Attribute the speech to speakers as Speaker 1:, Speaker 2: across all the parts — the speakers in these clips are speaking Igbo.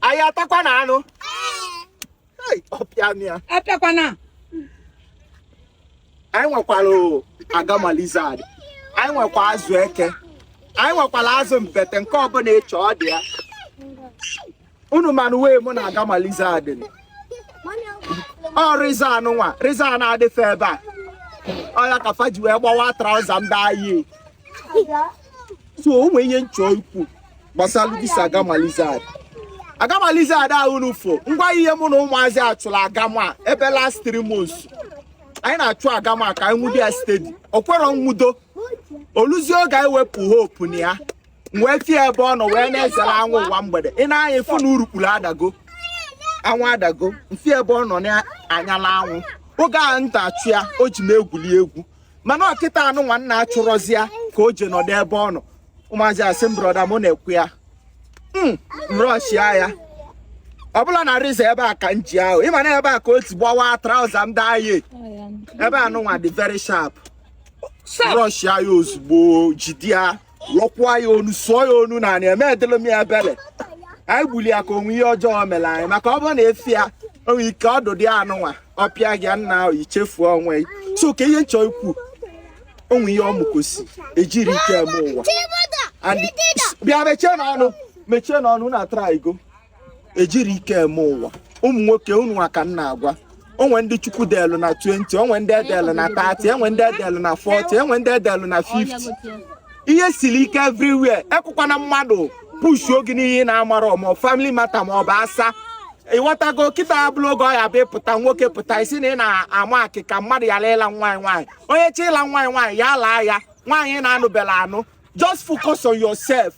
Speaker 1: anyị atakwa na anụ apịakwana anyị nwekwara agama lizard anyị nwekwa azụ eke anyị nwekwara azụ mbete nke ọbụla ị chọ ọ dị ya unu manụ iwe mụ na agama lizard ọ razor anụ nwa razor na-adị fa ebe a ọ ya ka fa ji wee gbawa traụza m daa yi so o nwere ihe m chọ ikwu gbasara this agama lizard agama lizard ahụ unu fụ ngwa ihe mụ na ụmụazị achụla agama ebe last three months anyị na-achụ agama ka anyị nwudo ya steady o kwero nwudo o luzie oge anyị wepụ hope na ya wee fụ ya ebe ọ nọ wee na-ezere anwụ ụwa mgbede i nee anya ị fụ na urukpuru adago anwụ adago m fụ ya ebe ọ nọ na-anyala anwụ oge ahụ m na-achụ ya o ji m egwuli egwu mana ọ kịta anụ nwa m na-achụrọzị ya ka o je nọdụ ebe ọ nọ ụmụazị asị m brọda mụ nekwa ya m rọshia ya ọ bụla na razor ebe a ka m ji ahụ ị ma na ebe a ka o si gbawa trauza m daa ye ebe anụ nwa dị very sharp rọshia ya ozugbo jide ya lọkwaa ya onu sụọ ya onu n'anị emedịrọ m ya ebere anyị gbuli ya ka o nwe ihe ọjọọ mere anyị maka ọ bụrụ na efi ya o nwe ike ọdụ dị anụ nwa ọ pịa gị n'ahụ i chefuo onwe gị so ka ihe m chọ ikwu o nwe ihe ọmụkosi ejirọ ike eme ụwa bịa mechienụ ọnụ mechienụ ọnụ na-atara igo ejirọ ike eme ụwa ụmụ nwoke unu nwa ka m na-agwa o nwe ndị chukwu delụ na 20 o nwe ndị e delụ na 30 e nwe ndị e delụ na 40 e nwe ndị e delụ na 50 ihe siri ike everywhere ekwekwana mmadụ pushuo gị n'ihe ị na-amarọ ma ọ family matter ma ọ bụ asa ị ghọtago kịta abụrọ oge ọ ya-abụ ị pụta nwoke pụta ị sị na ị na-ama akịka mmadụ ya laịla nwaanyị nwaanyị onye chọ ịla nwaanyị nwaanyị ya laa ya nwaanyị na-anụbela anụ just focus on yourself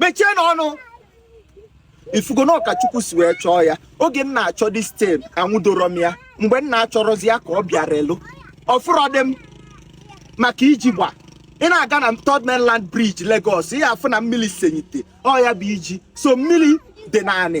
Speaker 1: mechienụ ọnụ ị fụgo na ọ ka chukwu si wee chọọ ya oge m na-achọ this thing anwudoro m ya mgbe m na-achọrọzi ya ka ọ bịara elu ọ fụrọdị m maka iji gba ị na-aga na third mainland bridge Lagos ị ya-afụ na mmiri senyite ọ ya-abụ i ji sọ mmiri dị n'anị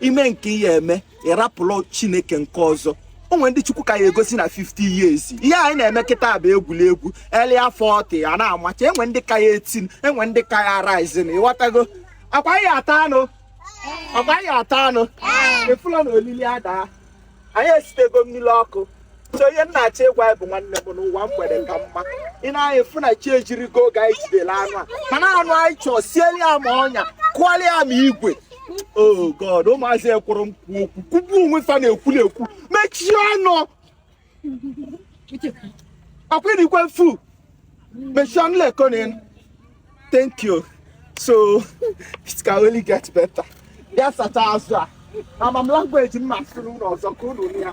Speaker 1: i mee nke ị ya-eme ị rapụrụ chineke nke ọzọ o nwe ndị chukwu ka ya-agọzi na 50 years ihe anyị na-eme kịta bụ egwuregwu early 40 a na-amacha e nwe ndị ka ya etin e nwe ndị ka ya rizin ị ghọtago akwa ya ata anụ akwa ya ata anụ efula na olili adaa anyị esibego mmiri ọkụ so ihe m na-achọ ịgwa gị bụ nwanne m na ụwa mgbede ka mma i nee anya ị fụ na chi ejirigo oge anyị jidere anụ a mana anụ anyị chọọ sieli ya ma ọnya kụọrọ ya ma igwe oh god ụmụazị ekwerọ m kwuo okwu kwugbuo onwe fa na-ekwuli ekwu mechie ọnụ ọkwụrikwe fu mechie ọnụ lekọnin thank you so it can only get better ya sacha azụ a ama m language m ma-asụrụ unu ọzọ ka unu ya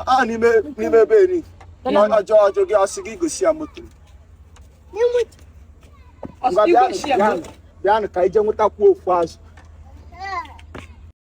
Speaker 1: a n'ime n'ime be eri ọjọọ ọjọọ gị ọsị gị gosi ya moto bịanụ ka i je nwetakwuo ofu azụ